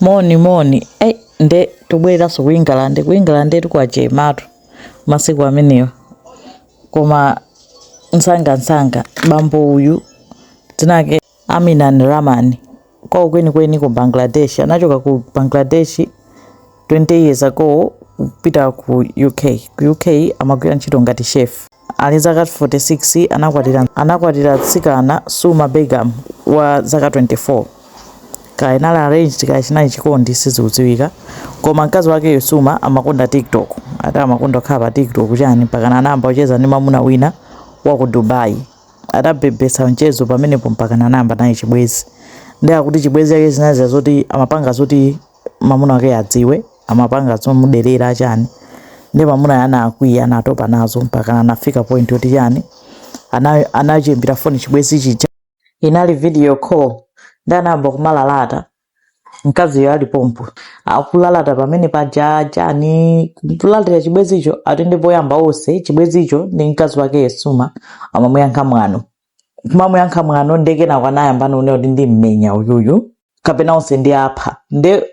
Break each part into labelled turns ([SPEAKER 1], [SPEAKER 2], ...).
[SPEAKER 1] moni moni ei nde tibwererenso ku england ku england kwachematu masiku amenewa koma msangamsanga bambo uyu dzina lake aminan rahman kwawo kwenikweni ku bangladesh anachoka ku bangladesh 20 years ago kupita ku uk ku uk amagwira ntchito ngati chef Ali zaka 46 anakwatira anakwatira mtsikana Suma Begum wa zaka 24. Kaya inali arranged kaya chinali chikondi sizikudziwika. Koma mkazi wakeyo Suma amakonda TikTok. Ati amakonda kukhala pa TikTok chani mpakana anayamba kucheza ndi mwamuna wina wa ku Dubai. Adabebetsa mchezo pamenepo mpakana anayamba naye chibwenzi. Ndiye akuti chibwenzi chake zinali zoti amapanga zoti mamuna wake adziwe amapanga zomuderera chani nde mamuna uja anakwiya anatopa nazo mpaka anafika point yoti chani anachiimbira foni chibwezi chija inali video call nde anayamba kumalalata mkaziyo ali pompo akulalata pamene paja chani kulalatira chibwezicho ati nde poyamba onse chibwezicho ndi mkazi wakeyo suma amamuyankha mwano kumamuyankha mwano nde kenako anayamba kunena kuti ndimmenya uyuyu kapena onse ndiwapha nde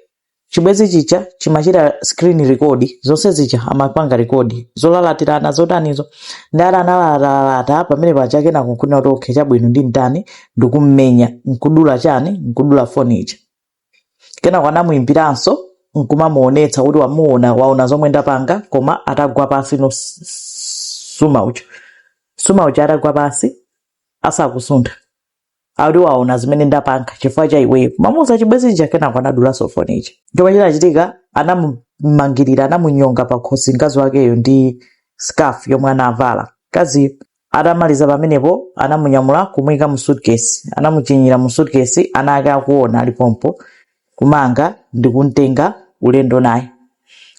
[SPEAKER 1] chibwezi chija chimachita screen record zonse zija amapanga record zolalatirana zotanizo nde atalalatalalata pamene paja kenako nkunena kuti okay chabwino ndimtani ndikummenya nkudula chani nkudula foni ija Kenako anamuimbiranso nkumamuonetsa kuti wamuona waona zomwe ndapanga koma atagwa pansi no s- s- suma uja suma uja atagwa pansi asakusuntha akuti waona zimene ndapanga chifukwa cha iweyo kumauza chibwenzi chija kenako anadulanso foni ija chomwe chinachitika anamumangirira anamunyonga pakhosi mkazi wakeyo ndi scarf yomwe anavala mkaziyo Atamaliza pamenepo anamunyamula kumuika mu suitcase, anamuthinyira mu suitcase ana ake akuona ali pompo kumanga ndikumtenga ulendo naye.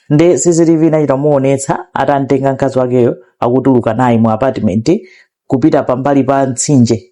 [SPEAKER 1] Nde CCTV inachita kumuonetsa atamtenga mkazi wakeyo akutuluka naye mu apartment kupita pambali pa mtsinje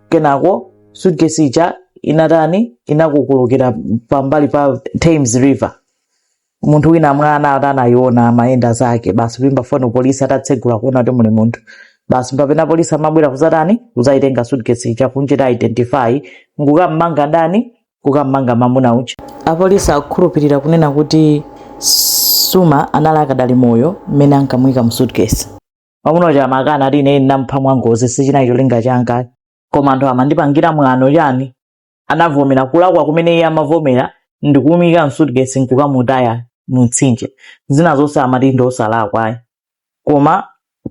[SPEAKER 1] kenako suitcase ija inatani inakukulukira pambali pa thames river munthu wina mwina ati anayiona amayenda zake basi kuimba foni polisi atatsegula kuona kuti muli munthu basi mpamene polisi amabwera kuzatani kuzayitenga suitcase ija kumuchita identify nkukamanga ndani kukamanga mamuna uja apolisi akukhulupirira kunena kuti suma anali akadali moyo mmene ankamuyika mu suitcase mwamuna uja amakana ati ine ndinampha mwangozi sichinali cholinga changa koma anthu amandipangira mwano chani anavomera kulakwa kumene iye amavomera ndikumuika mu suitcase nkukamutaya mumtsinje zina zonse amati ndi osalakwa ayi koma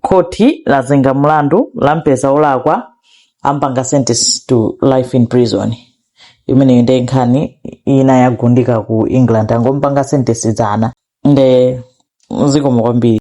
[SPEAKER 1] khoti lazenga mlandu lampeza olakwa ampanga sentence to life in prison imeneyo nde nkhani ina yagundika ku england angompanga sentence dzana nde zikomo kwambiri